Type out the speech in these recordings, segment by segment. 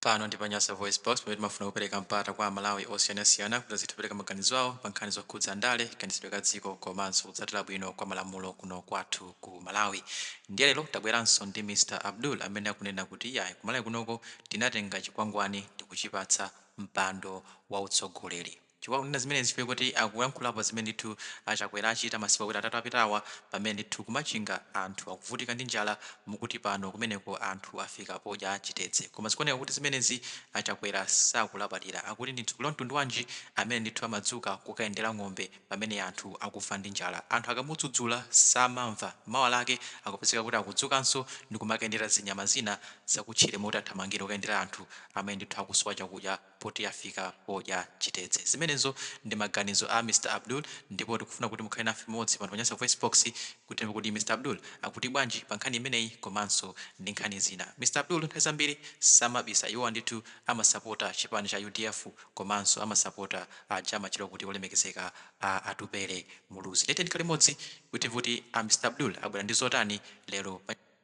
Pano ndi pa Nyasa VoiceBox, pamene timafuna kupereka mpata kwa aMalawi osiyanasiyana kuti azitha kupereka maganizo awo pa nkhani zokhudza ndale, kaganizidwe ka dziko komanso kutsatira bwino kwa malamulo kuno kwathu ku Malawi. Ndiye lero tabweranso ndi Mr Abdul amene akunena kuti iyayi, ku Malawi kunoko tinatenga chikwangwani ndikuchipatsa mpando wa utsogoleri. Chifukwa akunena zimenezi chifukwa choti akuyankhulapo zimene ndithu a Chakwera achita masiku awiri atatu apitawa pamene ndithu ku Machinga anthu akuvutika ndi njala mukuti pano kumeneko anthu afika podya chitedze. Koma zikuoneka kuti zimenezi a Chakwera sakulabadira. Akuti ndi mtsogoleri wa mtundu wanji amene ndithu amadzuka kukayendera ng'ombe pamene anthu akufa ndi njala. Anthu akamudzudzula samamva. Mawa lake akupezeka kuti akudzukanso ndi kumakayendera zinyama zina zakutchire m'malo moti athamangire kukayendera anthu amene ndithu akusowa chakudya. poti afika podya chitedze. Zimenezo ndi maganizo a Mr Abdul ndipo tikufuna kuti mukhale nafe limodzi pano pa Nyasa VoiceBox kuti timve kuti Mr Abdul akuti bwanji pa nkhani imeneyi komanso ndi nkhani zina. Mr Abdul nthawi zambiri samabisa, iwowa ndithu amasapota chipani cha udf komanso amasapota aja amatchedwa kuti olemekezeka a Atupele Muluzi. Ndiye tiyeni tikhale limodzi kuti timve kuti a Mr Abdul abwera ndi zotani lero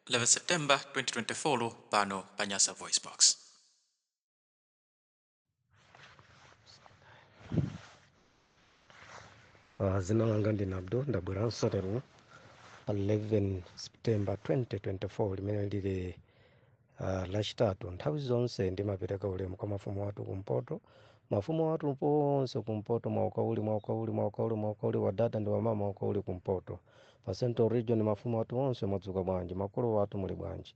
11 September 2024 pano pa Nyasa VoiceBox. Uh, dzina langa ndine Abdul ndabweranso lero pa 11 september 2024 limene lili uh, lachitatu nthawi zonse ndimapereka ulemu kwa mafumu athu kumpoto mafumu athu ponse kumpoto mwawuka uli mwawuka uli mwawuka uli mwawuka uli wadada ndi wamama mwawuka uli kumpoto pa central region mafumu athu onse mwadzuka bwanji makolo athu muli bwanji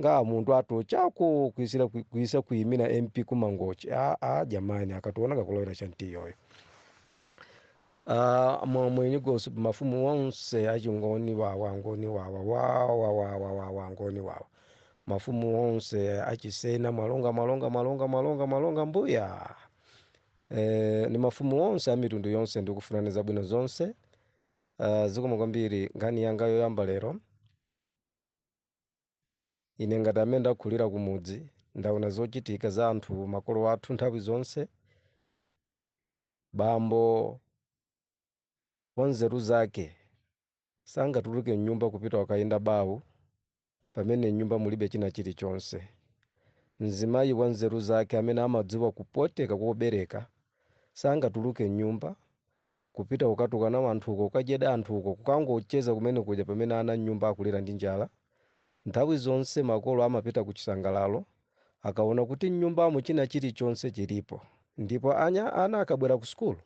nga muntu atochako kuisira kui- kuisa kuimira mp kumangochi a a jamani akationa kakulowera chantiyoyo Ah, mwa- mwenye gosi mafumu onse achingoni wawa ngoni wawa wawa wawa wawa ngoni wawa mafumu onse achisena mwalonga mwalonga mwalonga mwalonga mwalonga mbuya eh, ni mafumu onse a mitundu yonse ndikufunirani zabwino zonse uh, zikomo kwambiri nkhani yanga yoyamba lero Ine ngati amene ndakulira kumudzi ndaona zochitika za anthu makolo athu nthawi zonse. Bambo wanzeru zake sangatuluke m'nyumba kupita kukayenda bawu pamene m'nyumba mulibe china chilichonse. Mzimayi wanzeru zake amene amadziwa kupweteka kobereka sangatuluke m'nyumba Kupita kukatukana wanthu uko, kukajeda anthu uko, kukangocheza kumene kuja pamene ana m'nyumba akulira ndi njala. Nthawi zonse makolo amapita ku chisangalalo akaona kuti m'nyumbamo china chilichonse chilipo. Ndipo anya, ana akabwera ku sukulu,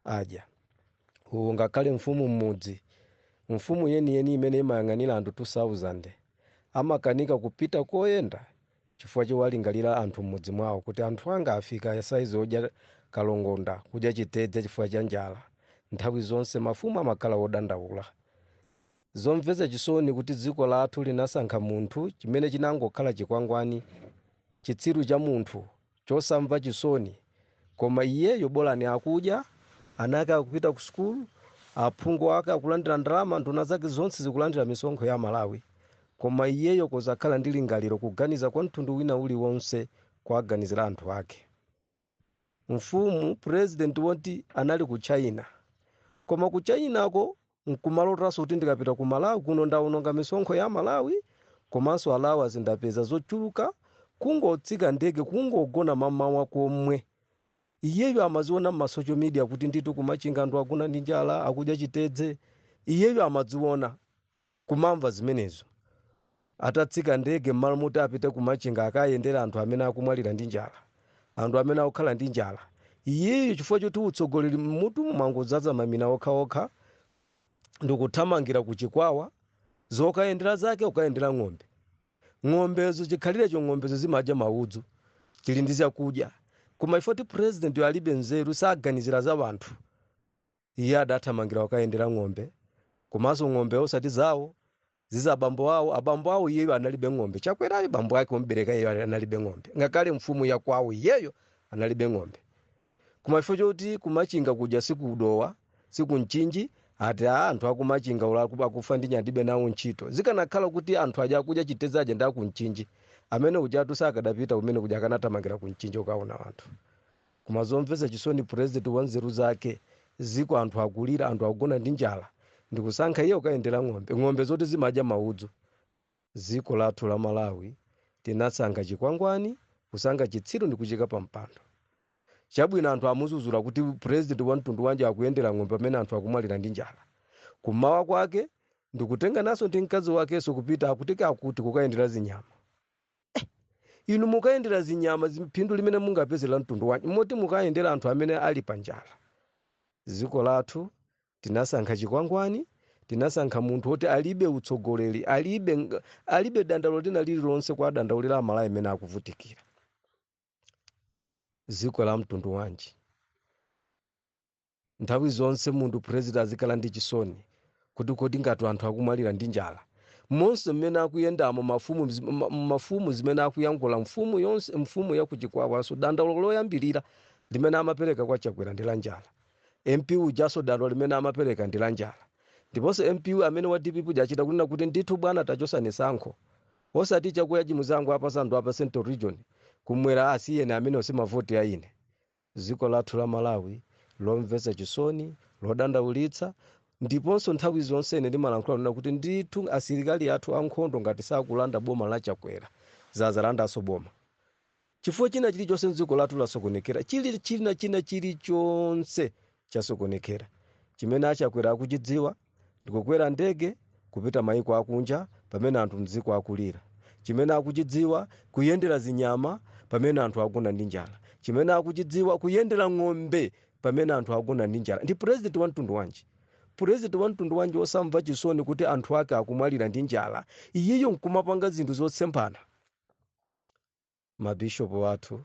adya. Uwu ngakhale mfumu m'mudzi, mfumu yeniyeni imene imayang'anira anthu 2,000, amakanika kupita koyenda chifukwa chowalingalira anthu m'mudzi mwawo kuti anthu anga afika saizi odya kalongonda, kudya chitedze chifukwa cha njala. Nthawi zonse mafumu amakhala odandaula. Zomvetsa chisoni kuti dziko lathu linasankha munthu chimene chinangokhala chikwangwani, chitsiru cha munthu chosamva chisoni koma iyeyo bolani akudya ana ake akupita ku sukulu aphungu ake akulandira ndalama nduna zake zonse zikulandira misonkho ya malawi koma iyeyo kosakhala ndi lingaliro kuganiza kwa mtundu wina uliwonse kuwaganizira anthu ake mfumu president woti anali ku china koma ku chinako nkumalotanso kuti ndikapita ku malawi kuno ndaononga misonkho ya malawi komanso allowance ndapeza zochuluka kungotsika ndege kungogona mamawa komwe iyeyo amaziona mma social media kuti ndithu kumachinga anthu akugona ndi njala akudya chitedze iyeyo amadziona kumamva zimenezo Atatsika ndege mmalo moti apite ku Machinga akayendere anthu amene akumwalira ndi njala, anthu amene akukhala ndi njala, iyeyo chifukwa choti utsogoleri mmutu mwangodzadza mamina okhaokha ndikuthamangira ku Chikwawa, zokayendera zake kukayendera ng'ombe. Ng'ombezo chikhalirecho ng'ombezo zimadya maudzu, zili ndi chakudya. Koma chifukwa choti presidentyo alibe nzeru saganizira za anthu. Iye adathamangira kukayendera ng'ombe, komanso ng'ombe osati zawo, ndi za bambo awo. Abambo awo iyeyo analibe ng'ombe. Chakwerayo bambo ake omubereka iyeyo ali- analibe ng'ombe. Ngakhale mfumu ya kwawo iyeyo analibe ng'ombe. Koma chifukwa choti kumachinga kuja si ku Dowa, si ku Mchinji, ati a anthu aku Machinga ola aku- akufa ndi njala ndilibe nawo ntchito. Zikanakhala kuti anthu aja akudya chitedze aja ndi aku Mchinji, amene ujatu sakadapita kumene kuja akanathamangira ku Mchinji kukaona anthu. Koma zomvesa chisoni president wanzeru zake ziko anthu akulira anthu akugona ndi njala ndikusankha iye kukayendera ng'ombe ng'ombe zoti zimadya maudzu ziko lathu la Malawi tinasankha chikwangwani kusankha chitsiru ndikuchiika pa mpando chabwino anthu amuzuzula kuti president wamtundu wanji akuyendera ng'ombe pamene anthu akumwalira ndi njala kum'mawa kwake ndikutengananso ndi mkazi wakeso kupita akuti akuti kukayendera zinyama inu mukayendera zinyama zi- phindu limene mungapeze la mtundu wanji moti mukayendere anthu amene ali pa njala dziko lathu tinasankha chikwangwani tinasankha munthu woti alibe utsogoleri alibe ng- alibe dandaulo lina lililonse kuwadandaulira amalawi amene akuvutikira mdziko la mtundu wanji nthawi zonse munthu president azikhala ndi chisoni kuti kodi ngati anthu akumwalira ndi njala monse mmene akuyendamo mafumu zimene akuyankhula mfumu yonse mfumu ya kuchikwawaso dandaulo loyambirira limene amapereka kwa chakwera ndi la njala mp ujaso dandaulo limene amapereka ndi la njala ndiponso mp amene wa dpp uja achita kunena kuti ndithu bwana tachosani tsankho osati chakudya chimangopasa anthu apa central region kumwera asiyeni amene osimavoti a ine Dziko lathu la Malawi lomvetsa chisoni, lodandaulitsa, ndiponso nthawi zonse ine ndimalankhula kunena kuti ndithu asilikali athu ankhondo ngati sakulanda boma la Chakwera, zadzalandanso boma. Chifukwa china chilichonse m'dziko lathu lasokonekera, china chilichonse chasokonekera. Chimene a Chakwera akuchidziwa. ndikukwera ndege kupita maiko akunja pamene anthu mdziko akulira chimene akuchidziwa kuyendera zinyama pamene anthu agona ndi njala chimene akuchidziwa kuyendera ng'ombe pamene anthu agona ndi njala ndi president wa mtundu wanji president wa mtundu wanji osamva chisoni kuti anthu ake akumwalira ndi njala iyeyo nkumapanga zinthu zotsemphana mabishop athu,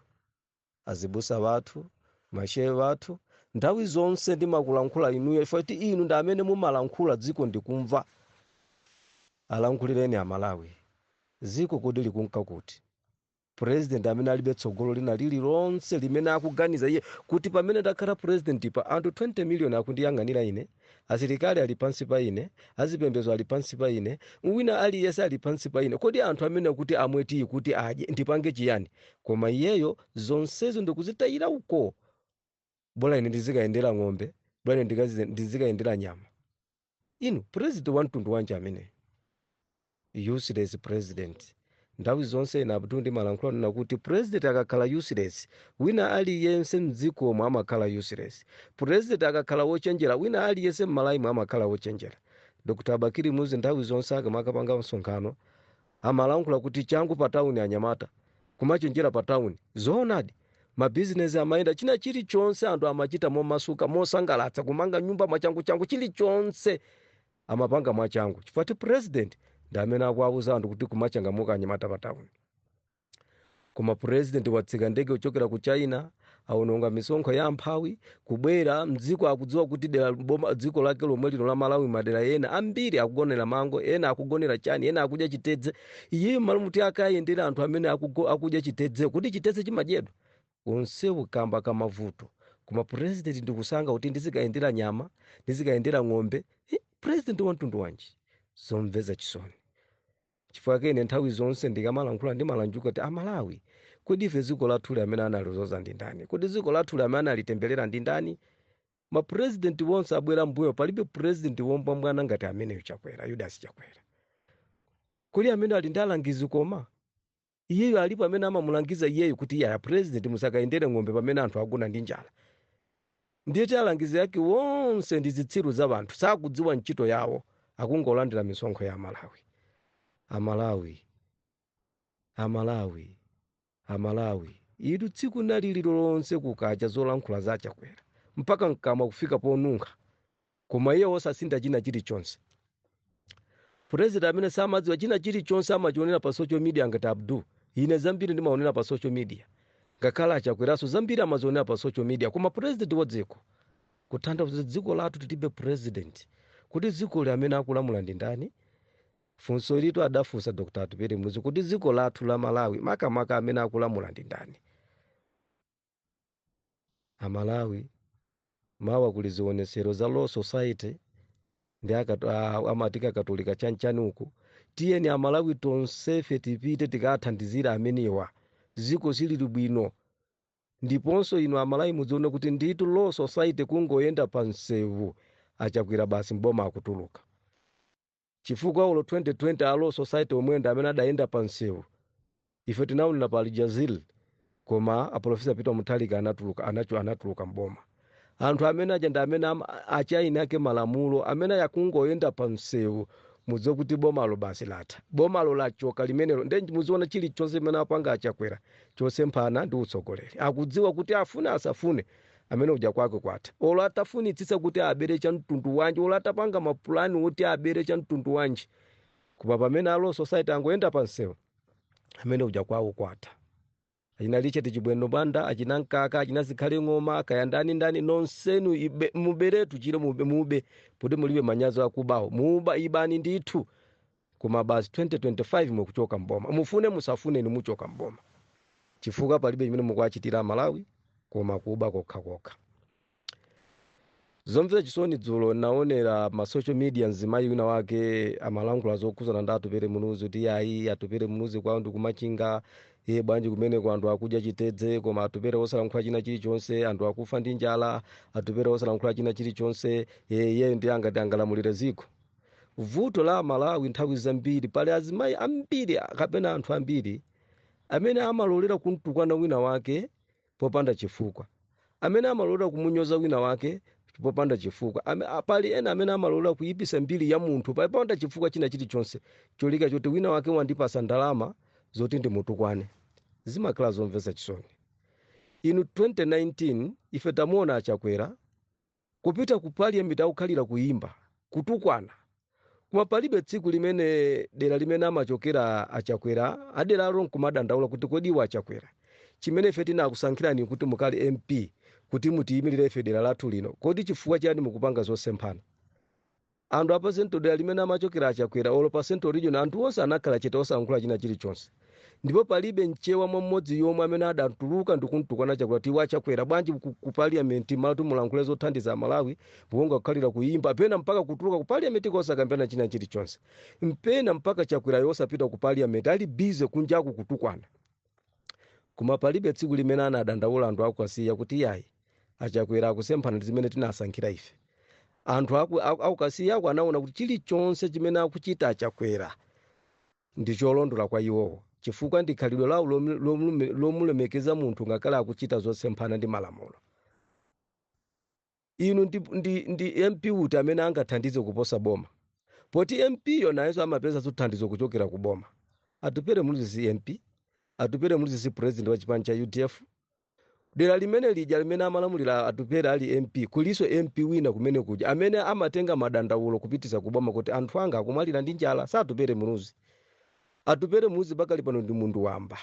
azibusa wathu, ma shehe wathu, nthawi zonse ndimakulankhula inuyo chifukwa choti inu ndi amene mumalankhula dziko ndikumva. Alankhulireni Amalawi. Dziko kodi likunka kuti? President amene alibe tsogolo lina lililonse limene akuganiza iye kuti pamene ndakhala presidentipa anthu 20 million akundiyang'anira ine? Asilikali ali pansi pa ine, azipembezo ali pansi pa ine, wina aliyense ali pansi pa ine. Kodi anthu amenewa kuti amwe tiyi kuti adye, ndipange chiyani? Koma iyeyo zonsezo ndikuzitayira uko. Bola ine ndizikayendera ng'ombe, bola ine ndizikayendera nyama. Inu, president wamtundu wanji ameneyo? Useless president. Nthawi zonse ine Abdul ndimalankhula kunena kuti president akakhala useless, wina aliyense mdzikomo amakhala useless. President akakhala wochenjera, wina aliyense m'Malawimu amakhala wochenjera. Dr Bakili Muluzi nthawi zonse akamakapanga msonkhano amalankhula kuti changu pa town anyamata, kumachenjera pa town. Zoonadi, mabizinesi amayenda, china chilichonse anthu amachita momasuka, mosangalatsa, kumanga nyumba mwachanguchangu, chilichonse amapanga mwachangu chifukwa ti president ndi amene akuwauza anthu kuti kumachangamuka anyamata pa town koma president watsika ndege kuchokera ku china aononga misonkho ya amphawi kubwera mdziko akudziwa kuti dera boma dziko lake lomwe lino la malawi madera ena ambiri akugonera mango ena akugonera chani ena akudya chitedze iyeyo malo moti akayendere anthu amene akugo- akudya chitedze kuti chitedze chimadyedwa onsewo kamba ka mavuto koma president ndikusankha kuti ndizikayendera nyama ndizikayendera ng'ombe Eh, president wa mtundu wanji zomvetsa chisoni chifukwa chake ine nthawi zonse ndikamalankhula ndimalankhula kuti amalawi kodi ife dziko lathuli amene analizoza ndi ndani kodi dziko lathuli amene analitembelera ndi ndani mapurezidenti wonse abwera mmbuyo palibe purezidenti wombwambwana ngati ameneyo chakwera yudasi chakwera kodi amene ali ndi alangizi koma Iyeyo alipo amene amamulangiza iyeyu kuti iye a president musakayendere ng'ombe pamene anthu agona ndi njala. Ndiye kuti alangizi ake onse ndi zitsiru za anthu sakudziwa ntchito yawo akungolandira misonkho ya Amalawi. Amalawi. Amalawi. Amalawi. Inu tsiku nalo lililonse kukacha zolankhula za Chakwera mpaka mkamwa kufika ponunkha. Koma iye wosasintha china chirichonse. Purezidenti amene samadziwa china chirichonse amachiwonera pa social media ngati Abdul. Ine zambiri ndimawonera pa social media. Ngakhale a Chakweranso zambiri amaziwonera pa social media. Koma purezidenti wa dziko. Kutanthauza kuti dziko lathu tilibe purezidenti. Kodi dzikoli amene akulamula ndi ndani? Funso ilitu adafunsa Dr. Atupele Muluzi. Kodi dziko lathu la Malawi makamaka amene akulamula ndi ndani? A Malawi, mawa kuli zionetsero za Law Society ndi aka, a, amati Akatolika chanchani uku. Tiyeni a Malawi tonsefe tipite tikathandizire amenewa. Dziko silili bwino. Ndiponso inu a Malawi mudzione kuti ndithu Law Society kungoyenda pa msewu a Chakwera basi m'boma akutuluka. chifukwa olo 2020 a law society omwewa ndi amene adayenda pa msewu ife tinaonera pa aljazeera koma aprofesa peter mutharika anatuluka anacho anatuluka mboma anthu amene aja ndi amene am- achaini ake malamulo amene aja kungoyenda pa msewu mudziwe kuti bomalo basi latha bomalo lachoka limenelo nde muziona chilichonse chimene apanga achakwera chosemphana ndi utsogoleri akudziwa kuti afune asafune Amene uja kwake kwatha. Olo atafunitsitsa kuti abele cha mtundu wanji, olo atapanga ma plan oti abele cha mtundu wanji, koma pamene a Law Society angoyenda pa msewu, amene uja kwawo kwatha. Achina Richard Chimwendo Banda, achina Mkaka, achina Zikhale Ng'oma, kaya ndani ndani, nonsenu ibe, mubeletu chile mube, mube, poti mulibe manyazi akubawo. Muba, ibani ndithu. Koma basi 2025 mukuchoka m'boma. Mufune musafune inu muchoka m'boma. Chifukwa palibe chimene mukuwachitira a Malawi koma kuba kokha kokha. Zomvetsa chisoni dzulo naonera ma social media mzimayi wina wake amalankhula zokhudzana ndi Atupele Muluzi kuti ayi Atupele Muluzi kwawo ndi ku Machinga iye bwanji kumeneko anthu akudya chitedze koma Atupele osalankhula china chilichonse anthu akufa ndi njala Atupele osalankhula china chilichonse iyeyo ndi angati angalamulire dziko. vuto la amalawi nthawi zambiri pali azimayi ambiri kapena anthu ambiri amene amalolera kumtukwana wina wake popanda chifukwa amene amalolera kumunyoza wina wake popanda chifukwa Ame, a- pali ena amene amalolera kuyipisa mbiri ya munthu pa- popanda chifukwa china chilichonse cholinga choti wina wake wandipasa ndalama zoti ndimtukwane zimakhala zomvetsa chisoni inu 2019 ife tamuona achakwera Kupita ku parliament akukhalira kuyimba, kutukwana koma palibe tsiku limene dera limene amachokera a Chakwera a deralo nkumadandaula kuti kodi a Chakwera chimene ife tinakusankhirani kuti mukhale MP kuti mutiyimilire ife dera lathu lino kodi chifukwa chiyani mukupanga zosemphana? Anthu a pa central dera limene amachokera a Chakwera olo pa central region anthu onse anakhala chete osalankhula china chilichonse ndipo palibe mchewa mmodzi yomwe amene adatuluka ndikumtukwana Chakwera kuti a Chakwera bwanji ku, ku parliament mmalo kuti mulankhule zothandiza Malawi mukungokhalira kuyimba pena mpaka kutuluka ku parliament kosakambirana china chilichonse pena mpaka Chakwerayo osapita ku parliament ali busy kunjaku kutukwana Koma palibe tsiku limene anadandaula anthu aku Kasiya kuti iyayi achakwera akusemphana ndi zimene tinasankhira ife. Anthu aku, aku, aku Kasiyako anaona kuti chilichonse chimene akuchita achakwera ndi cholondola kwa iwowo chifukwa ndi khalidwe lawo lom- lomlume- lomulemekeza munthu ngakhale akuchita zosemphana ndi malamulo. Inu ndi, ndi, ndi MP uti amene angathandize kuposa boma? Poti MP yo nayenso amapezanso thandizo kuchokera ku boma. Atupele Muluzi si MP, Atupele Muluzi si president wa chipani cha udf. Dera limene lija limene amalamulira Atupele ali MP, kulinso MP wina kumene kuja amene amatenga madandaulo kupititsa ku boma kuti anthu anga akumwalira ndi njala, si Atupele Muluzi. Atupele Muluzi pakali pano ndi munthu wamba.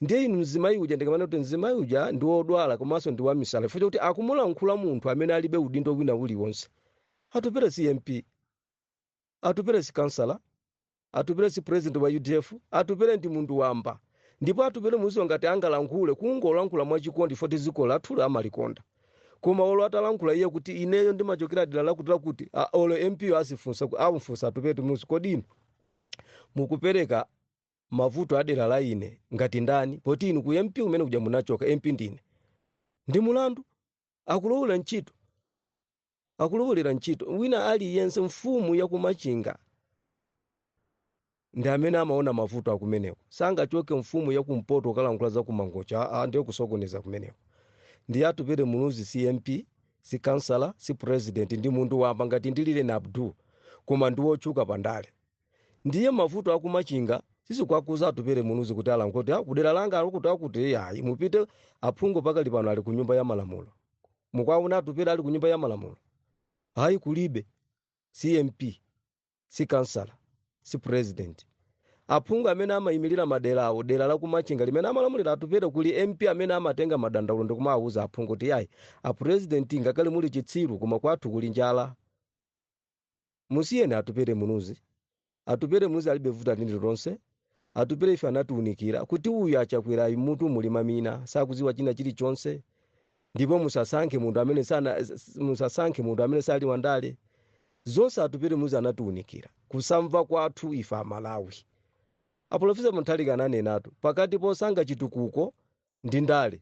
ndiye inu mzimayi uja ndikamanena kuti mzimayi uja ndi wodwala komanso ndi wamisala chifukwa chakuti akumulankhula munthu amene alibe udindo wina uliwonse atupere si mp atupere si kansala atupere si president wa udf atupere ndi munthu wamba ndipo atupere muluzi ngati angalankhule akungolankhula mwachikondi poti dziko lathu amalikonda koma olo atalankhula iye kuti ineyo ndimachokera dera lakuti lakuti a- olo mp yo azifunsa ku- amfunsa atupere muluzi kodi inu mukupereka mavuto adera la ine ngati ndani poti inu ku ump kumene kuja munachoka mp ndine ndi mulandu akulowera ntchito akulowolera ntchito wina aliyense mfumu yakumachinga ndi amene amaona mavuto akumeneko sangachoke mfumu yakumpoto kukalankhula za kumangochi aa ndiye kusokoneza kumeneko ndiye atupere muluzi si mp si kansala si president ndi munthu wamba ngati ndilili ine abdul koma ndi wotchuka pandale ndiye mavuto akumachinga sizikuwakhudza Atupele Muluzi kuti alankhule kuti "Ah, kudera langa akuti akuti ayi mupite aphungu pakali pano ali ku nyumba ya malamulo mukuwaona Atupele ali ku nyumba ya malamulo ayi kulibe si mp si kansala si president aphungu amene amayimirira madera awo dera la kumachinga limene amalamulira Atupele kuli mp amene amatenga madandaulo ndi kumawawuza aphungu kuti ayi a president ngakhale muli chitsiru koma kwathu kuli njala Musiyeni Atupele Muluzi. Atupele Muluzi alibe vuto lina lililonse. Atupele ife anatiunikira kuti uyu a Chakwerayu m'mutu muli mamina, sakudziwa china chilichonse. Ndipo musasankhe munthu amene sana, musasankhe munthu amene sali wandale. Zonse Atupele Muluzi anatiunikira. Kusamva kwathu ife Amalawi. A Polofesa Mutharika ananenatu, pakati posankha chitukuko ndi ndale,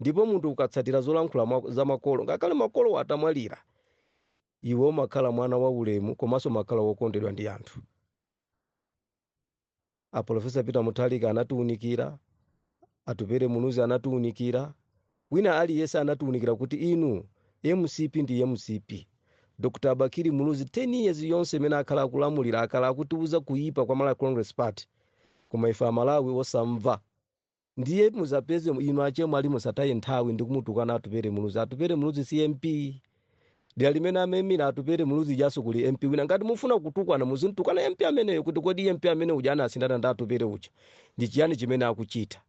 Ndipo munthu ukatsatira zolankhula mwa, za makolo, ngakhale makolowo atamwalira, iwe umakhala mwana waulemu komanso umakhala wokondedwa ndi anthu. A Professor Peter Mutharika anatiunikira, Atupele Muluzi anatiunikira, wina aliyense anatiunikira kuti inu mcp ndi mcp. Dr. a Bakili Muluzi 10 years yonse imene akhala akulamulira akhala akutiuza kuipa kwa Malawi Congress Party, koma ife Amalawi osamva. Ndiye muzapeze inu achemwali musataye nthawi ndi kumutukwana Atupele Muluzi. Atupele Muluzi si MP. Dera limene amaimira Atupele Muluzi ijaso kuli MP wina. Ngati mufuna kutukwana muzimtukwana MP ameneyo kuti kodi MP amene uja anasinthana ndi Atupele uja ndi chiyani chimene akuchita.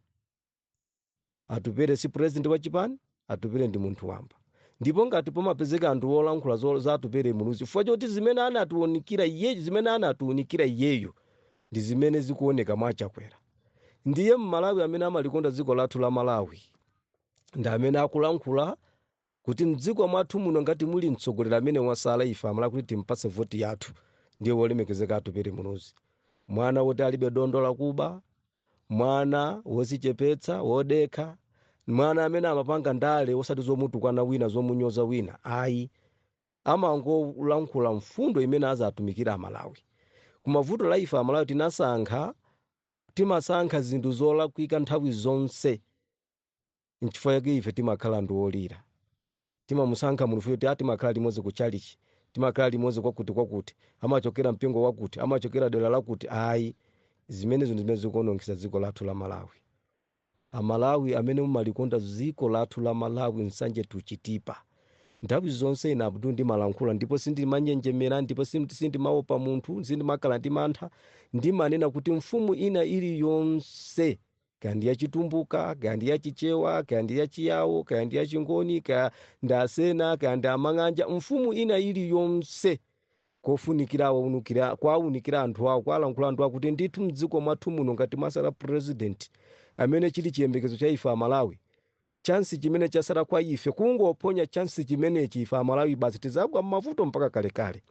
Atupele si president wa chipani. atupele ndi munthu wamba ndipo ngati pakumapezeka anthu olankhula zo- za atupele muluzi chifukwa choti zimene anatiunikira iyeyo zimene anatiunikira iyeyo ndi zimene zikuoneka mwa chakwera ndiye mmalawi amene amalikonda dziko lathu la malawi ndi amene akulankhula kuti mdziko mwathu muno ngati muli mtsogoleri amene wasala ife amalawi kuti timpatse voti yathu ndiye wolemekezeka atupele muluzi mwana woti alibe dontho lakuba Mwana wozichepetsa, wodekha, mwana amene amapanga ndale osati zomutukwana wina, zomunyoza wina ayi. Amangolankhula mfundo imene azatumikira a Malawi. Koma vuto la ife a Malawi tinasankha, timasankha zinthu zolakwika nthawi zonse. Nchifukwa chake ife timakhala anthu olira. Timamusankha munthuyo kuti, ah, timakhala limodzi ku tchalitchi, timakhala limodzi kwakuti kwakuti, amachokera mpingo wakuti, amachokera dera lakuti. Ayi. Zimenezo ndi zimene zikuonongesa dziko lathu la Malawi. A Malawi amene mumalikonda dziko lathu la Malawi, Nsanje to Chitipa. Nthawi zonse ine Abdul ndimalankhula ndipo sindimanjenjemera ndipo sim- sindimaopa munthu, sindimakhala ndi mantha. Ndimanena kuti mfumu ina iliyonse kaya ndi ya chitumbuka kaya ndi ya chichewa kaya ndi ya chiyawo kaya ndi ya chingoni kaya ndi asena kaya ndi amang'anja mfumu ina iliyonse kofunikira kuwaunikira kwaunikira anthu awo kwalankhula anthu awo kuti ndithu mdziko mwathu muno ngati mwatsala president amene chili chiyembekezo cha ife amalawi chansi chimene chatsala kwa ife kungophonya chansi chimenechi ife amalawi basi tizagwa mmavuto mpaka kalekale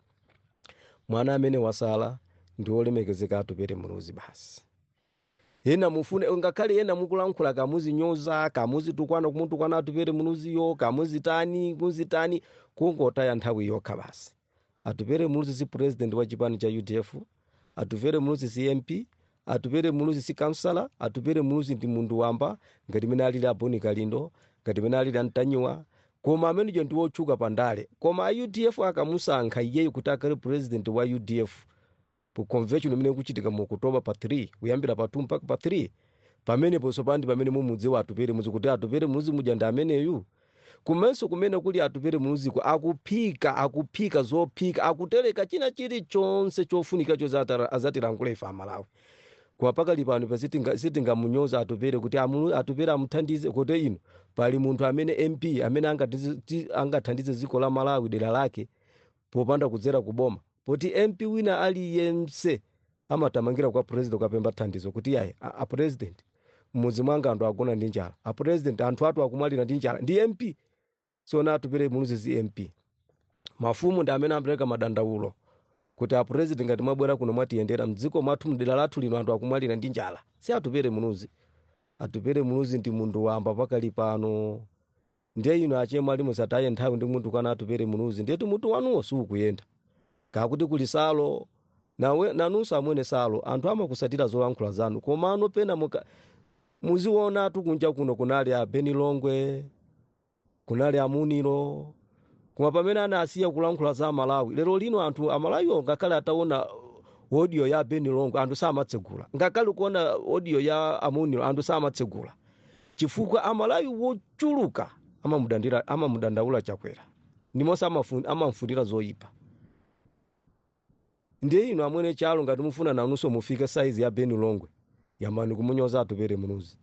mwana amene watsala ndi olemekezeka atupele muluzi basi Ena mufune ngakhale ena mukulankhula kaya muzimunyoza kaya muzitukwana kumutukwana Atupele Muluziyo kaya muzitani muzitani kungotaya nthawi yokha basi. Atupele Muluzi si president wa chipani cha udf, Atupele Muluzi si MP, Atupele Muluzi si councillor, Atupele Muluzi ndi munthu wamba ngati mene alili a Boni Kalindo, ngati mene alili a Ntanyiwa koma ameneyo ndi wotchuka pa ndale koma a udf akamusankha iyeyo kuti akhale president wa udf ku convention imene ikuchitika mu October pa 3 kuyambira pa 2 mpaka pa 3 pamenepo tsopano ndi pamene mumudziwe atupele muluzi kuti atupele muluzi uja ndi ameneyu komanso kumene kuli atupele muluziko akuphika akuphika zophika akuteleka china chilichonse chofunika cho zatara- azatilankhula ife amalawi kwa pakali pano pa sitinga- sitingamunyoze atupele kuti amulu- atupele amuthandize kuti ino pali munthu amene mp amene angatizi- ti- angathandize dziko la malawi dera lake popanda kudzera ku boma poti mp wina aliyense amatamangira kwa president kukapempha thandizo kuti yayi a, a president m'mudzi mwanga anthu agona ndi njala a president anthu athu akumwalira ndi njala ndi mp si za atupele muluzi si mp mafumu ndi amene amapereka madandaulo kuti a president ngati mwabwera kuno mwatiyendera mdziko mwathu mdera lathu lino anthu akumwalira ndi njala si atupele muluzi atupele muluzi ndi munthu wamba pakali pano Ndiye inu achemwali musataye nthawi ndi kumutukwana Atupele Muluzi ndiyetu mutu wanuwo siukuyenda. Kaya kuti kuli Salo nawe nanunso amwene Salo anthu amakutsatira zolankhula zanu komano pena muka- muziwonatu kunja kuno kunali a Beni Longwe kunali a Munilo koma pamene anasiya kulankhula za Malawi lero lino anthu a Malawiwo ngakhale ataona audio ya Beni Longwe anthu samatsegula ngakhale kuona audio ya a Munilo anthu samatsegula chifukwa amalawi wochuluka amamudandi- amamudandaula chakwera ndimonso amafu- amamfunira zoyipa ndiye inu amwene salo ngati mufuna nanunso mufike saizi ya beni longwe yambani kumunyoza atupele muluzi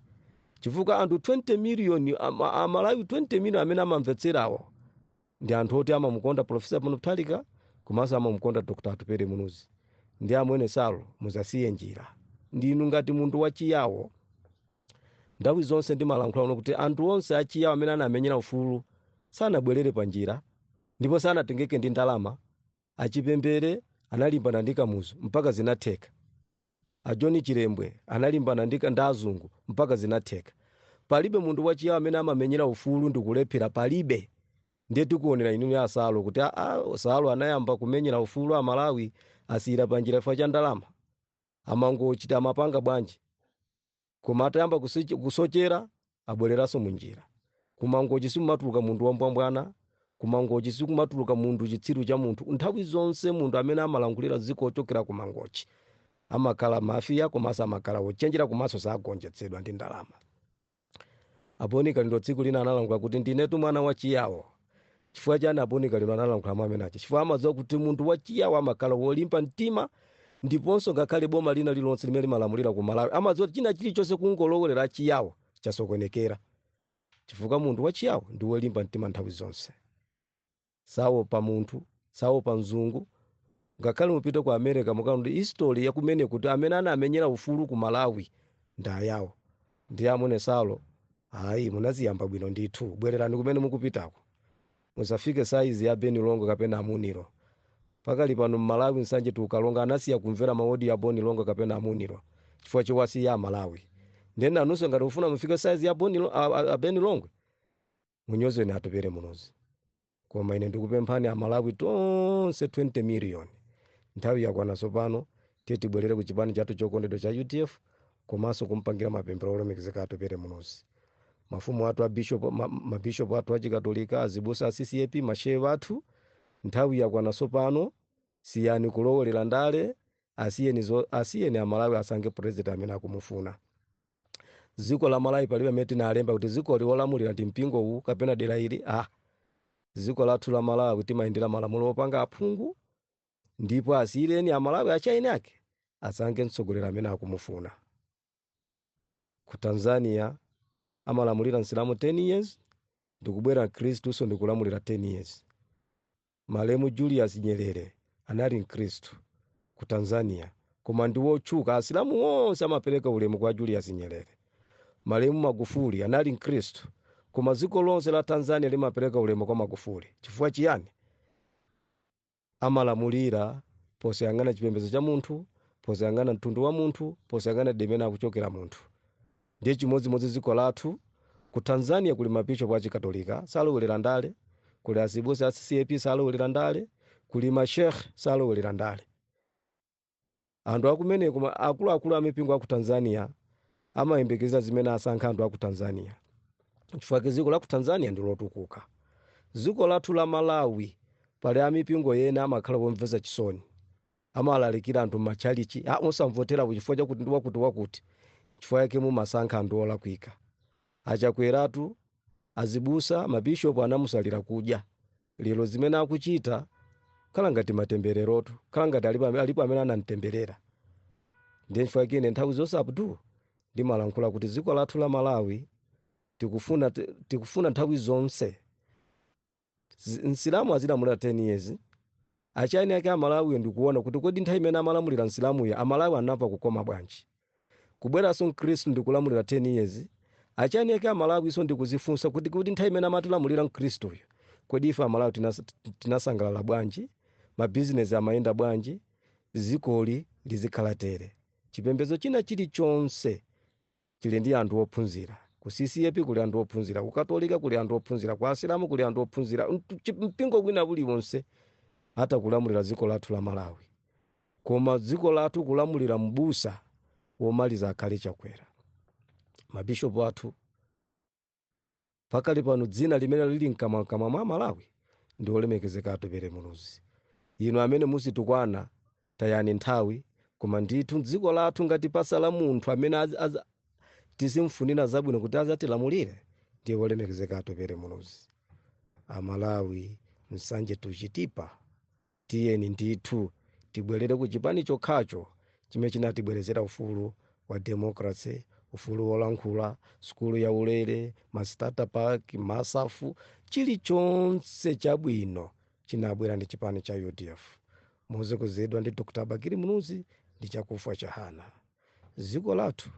chifukwa anthu 20 miliyoni ama- amalawi 20 miliyoni amene amamvetserawo ndi anthu oti amamukonda profesa peter mutharika komanso amamukonda dr atupele muluzi ndiye amwene salo muzasiye njira inu ngati munthu wachiyawo Nthawi zonse ndimalankhula kuno kuti anthu onse a Chiyao amene anamenyera ufulu sanabwelere pa njira ndipo sanatengeke ndi ndalama. A Chipembere analimbana ndi Kamuzu mpaka zinatheka. A John Chilembwe analimbana ndi azungu mpaka zinatheka. Palibe munthu wa Chiyao amene amamenyera ufulu ndikulephera palibe. Ndiye tikuonera inuyo a Salo kuti aa Salo anayamba kumenyera ufulu a Malawi asiyira pa njira chifukwa cha ndalama. a Mangochi timapanga bwanji koma atayamba kusochera abwereranso munjira kumangochi sikumatuluka munthu wambwambwana kumangochi sikumatuluka munthu chitsiru cha munthu nthawi zonse munthu amene amalankhulira dziko ochokera kumangochi amakhala mafiya komanso amakhala ochenjera komanso sagonjetsedwa ndi ndalama A Boni Kalindo tsiku lina analankhula kuti ndinetu mwana wa Chiyawo. Chifukwa chani a Boni Kalindo analankhula mawu amene aja? Chifukwa amadziwa kuti munthu wa Chiyawo amakhala wolimba mtima ndiponso ngakhale boma lina lililonse limene limalamulira ku Malawi amadziwa kuti china chilichonse kungolowerera a Chiyawo chasokonekera. Chifukwa munthu wa Chiyawo ndi wolimba mtima nthawi zonse. saopa munthu, saopa mzungu, ngakhale mupite ku America mukaona history ya kumene kuti amene anamenyera ufulu ku Malawi ndi ayawo. Ndiye amwene Salo, ayi munaziyamba bwino ndithu, bwererani kumene mukupitako. Musafike size ya Ben Longwe kapena a Muniro. Pakali pano Malawi Nsanje to Karonga anasiya kumvera ma audio ya Ben Longwe kapena a Muniro chifukwa chowasiya a Malawi. Ndiye nanunso ngati mufuna mufike size ya Boni, a, a, a Ben Longwe munyozeni atupele muluzi koma ine ndikupemphani amalawi tonse 20 miliyoni nthawi yakwana tsopano tiye tibwerere ku chipani chathu chokondedwa cha udf komanso kumpangira mapemphero olemekezeka atupele muluzi mafumu athu a bishop ma- mabishop athu achikatolika azibusa a ccap mashehe athu nthawi yakwana tsopano siyani kulowerera ndale asiyeni zo- asiyeni amalawi asankhe president amene akumufuna dziko la malawi palibe amene tinalemba kuti dzikoli wolamulira ndi mpingo uwu kapena dera ili ah dziko lathu la malawi timayendera malamulo opanga aphungu ndipo asiyireni amalawi achieni ake asankhe mtsogoleri amene akumufuna ku tanzania amalamulira msilamu 10 years ndikubwera mkhristunso ndikulamulira 10 years Malemu Julius Nyerere anali mkristu ku Tanzania koma ndi wotchuka asilamu onse amapereka ulemu kwa Julius Nyerere. Malemu Magufuli anali mkristu koma dziko lonse la Tanzania limapereka ulemu kwa Magufuli chifukwa chiyani? Amalamulira posayang'ana chipembedzo cha munthu, posayang'ana mtundu wa munthu, posayang'ana demene akuchokera munthu. Ndiye chimodzimodzi dziko lathu, ku Tanzania kuli ma Bishop a Chikatolika salowelera ndale, kuli azibusa a ccap salowelera ndale, kuli ma Sheikh salowelera ndale. Anthu akumeneko ma akuluakulu a mipingo a ku Tanzania amayembekeza zimene asankha anthu a ku Tanzania chifukwa chake dziko la ku Tanzania ndi lotukuka. Dziko lathu la Malawi pali a mipingo ena amakhala omvetsa chisoni. amalalikira anthu m'matchalitchi osamvotera chifukwa chakuti ndi wakuti wakuti nchifukwa yake mumasankha anthu olakwika. A Chakweratu, azibusa, mabishop anamusalira kudya. Lero zimene akuchita kukhala ngati matembererotu, kukhala ngati alipo ame- alipo amene anamtemberera. Ndiye nchifukwa yake ine nthawi zonse Abdul ndimalankhula kuti dziko lathu la Malawi tikufuna tikufuna nthawi zonse zi- msilamu azilamulira 10 years achani ake amalawiyo ndikuona kuti kodi nthawi imene amalamulira msilamuyo amalawi anamva kukoma bwanji kubweranso mkhristu ndikulamulira 10 years achani ake amalawinso ndikuzifunsa kuti kuti nthawi imene amatilamulira mkhristuyo kodi ife amalawi tinas- tinasangalala bwanji mabizinesi amayenda bwanji dzikoli lizikhala tere chipembedzo china chilichonse Chili ndi anthu ophunzira. Ku CCAP kuli anthu ophunzira, ku Katolika kuli anthu ophunzira, kwa Asilamu kuli anthu ophunzira, ntu chi mpingo wina uliwonse atha kulamulira dziko lathu la Malawi. Koma dziko lathu kulamulira m'busa womaliza akhale Chakwera. Ma Bishop athu. Pakali pano dzina limene lili mkamwamkamwa mwa Amalawi ndi olemekezeka Atupele Muluzi. Inu amene muzitukwana tayani nthawi koma ndithu dziko lathu ngati pasala munthu amene tizimfunira zabwino kuti azatilamulire ndiye olemekezeka Atupele Muluzi. Amalawi Nsanje to Chitipa Tiyeni ndithu tibwerere ku chipani chokhacho chimene chinatibweretsera ufulu wa democracy, ufulu wolankhula, sukulu ya ulere, ma starter pack, MASAF, chilichonse chabwino chinabwera ndi chipani cha udf motsogozedwa ndi Dr Bakili Muluzi ndi Chakufwa Chihana. dziko lathu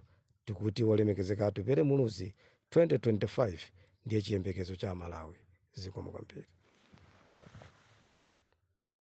tikuti olemekezeka atupere muluzi 2025 ndiye chiyembekezo cha amalawi zikomo kwambiri